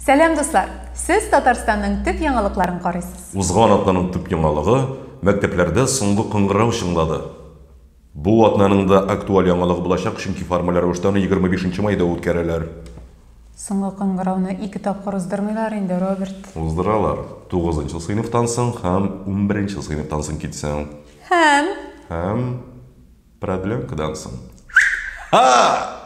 Сәлам, дуслар! Сез Татарстанның төп яңалыкларын карыйсыз. Узган атнаның төп яңалыгы, мәктәпләрдә соңгы кыңгырау чыңлады. Бу атнаның да актуаль яңалыгы булачак, чөнки формаль рәвештә аны 25 нче майда үткәрәләр. Соңгы кыңгырауны ике тапкыр уздырмыйлар инде, Роберт. Уздыралар. Тугызынчы сыйныфтан соң һәм унберенче сыйныфтан соң китсәң. Һәм? Һәм? Проблемкадан соң. Ха!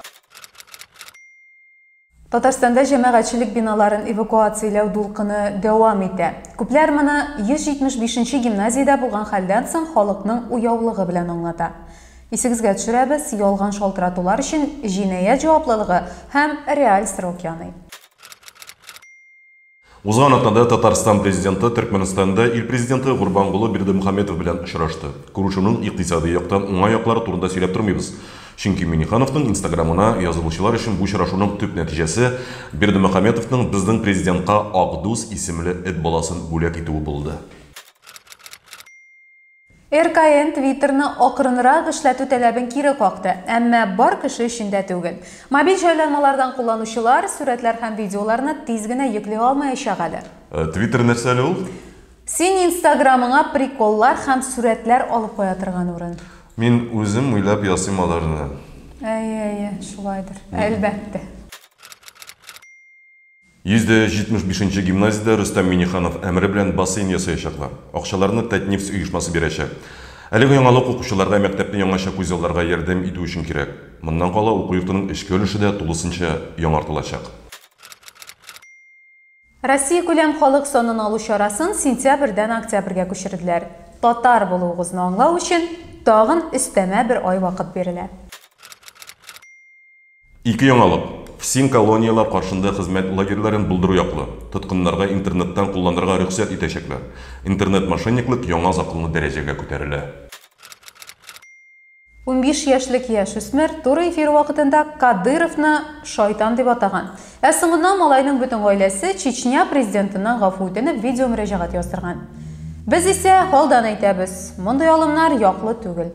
Татарстанда җәмәгатьчелек биналарын эвакуацияләү дулкыны дәвам итә. Күпләр моны 175 нче гимназиядә булган хәлдән соң халыкның уяулыгы белән аңлата. Исегезгә төшерәбез, ялган шалтыратулар өчен җинаять җаваплылыгы һәм реаль срок яный. Узган атнада Татарстан Президенты Төркмәнстанда ил Президенты Гурбангулы Бердымухаметов белән очрашты. Күрешүнең икътисади яктан уңай яклары турында сөйләп тормыйбыз. Чөнки Миңнехановның инстаграмына язылучылар өчен бу очрашуның төп нәтиҗәсе Бердымухаметовның безнең Президентка Акдус исемле эт баласын бүләк итүе булды. РКН Твиттерны акрынрак эшләтү таләбен кире какты, әмма бар кеше өчен дә түгел. Мобиль җайланмалардан кулланучылар сурәтләр һәм видеоларны тиз генә йөкли алмаячак әле. Твиттер нәрсә әле ул? Син инстаграмыңа приколлар һәм сурәтләр алып куя торган урын. Мин үзем уйлап ясыйм аларны. Әйе, әйе, шулайдыр, әлбәттә. 175 нче гимназиядә Рөстәм Миңнеханов әмере белән бассейн ясаячаклар. Акчаларны Татнефть оешмасы бирәчәк. Әлеге яңалык укучыларга мәктәпне яңача күзалларга ярдәм итү өчен кирәк. Моннан кала уку йортының эчке өлеше дә тулысынча яңартылачак. Россиякүләм халык санын алу чарасын сентябрьдән октябрьгә күчерделәр. Татар булуыгызны аңлау өчен тагын өстәмә бер ай вакыт бирелә. Ике яңалык, ФСИН колонияләр каршында хезмәт лагерьларын булдыру яклы, тоткыннарга интернеттан кулланырга рөхсәт итәчәкләр. Интернет-мошенниклык яңа законлы дәрәҗәгә күтәрелә. Унбиш яшьлек яшүсмер туры эфир вакытында Кадыйровны шайтан дип атаган. Ә соңыннан малайның бөтен гаиләсе Чечня президентыннан гафу үтенеп видеомөрәҗәгать яздырган. Без исә алдан әйтәбез, мондый алымнар яклы түгел.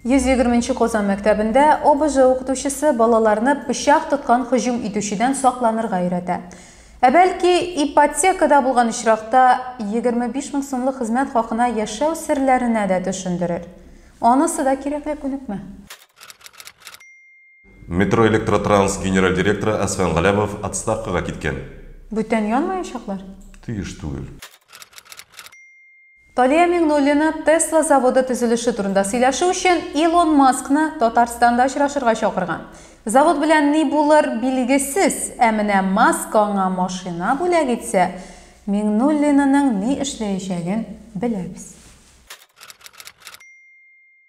Йөз егерме нче Казан мәктәбендә ОБЖ укытучысы балаларны пычак тоткан һөҗүм итүчедән сакланырга өйрәтә. Ә бәлки, ипотекада булган очракта егерме биш мең сумлык хезмәт хакына яшәү серләренә дә төшендерер? Анысы да кирәкле күнекмә. Метроэлектротранс генераль директоры Әсфан Галәмов отставкага киткән. Бүтән янмаячаклар? Тиеш түгел. Талия Миңнуллина Tesla заводы төзелеше турында сөйләшү өчен Илон Маскны Татарстанда очрашырга чакырган. Завод белән ни булыр, билгесез, ә менә Маск аңа машина бүләк итсә, Миңнуллинаның ни эшләячәген беләбез.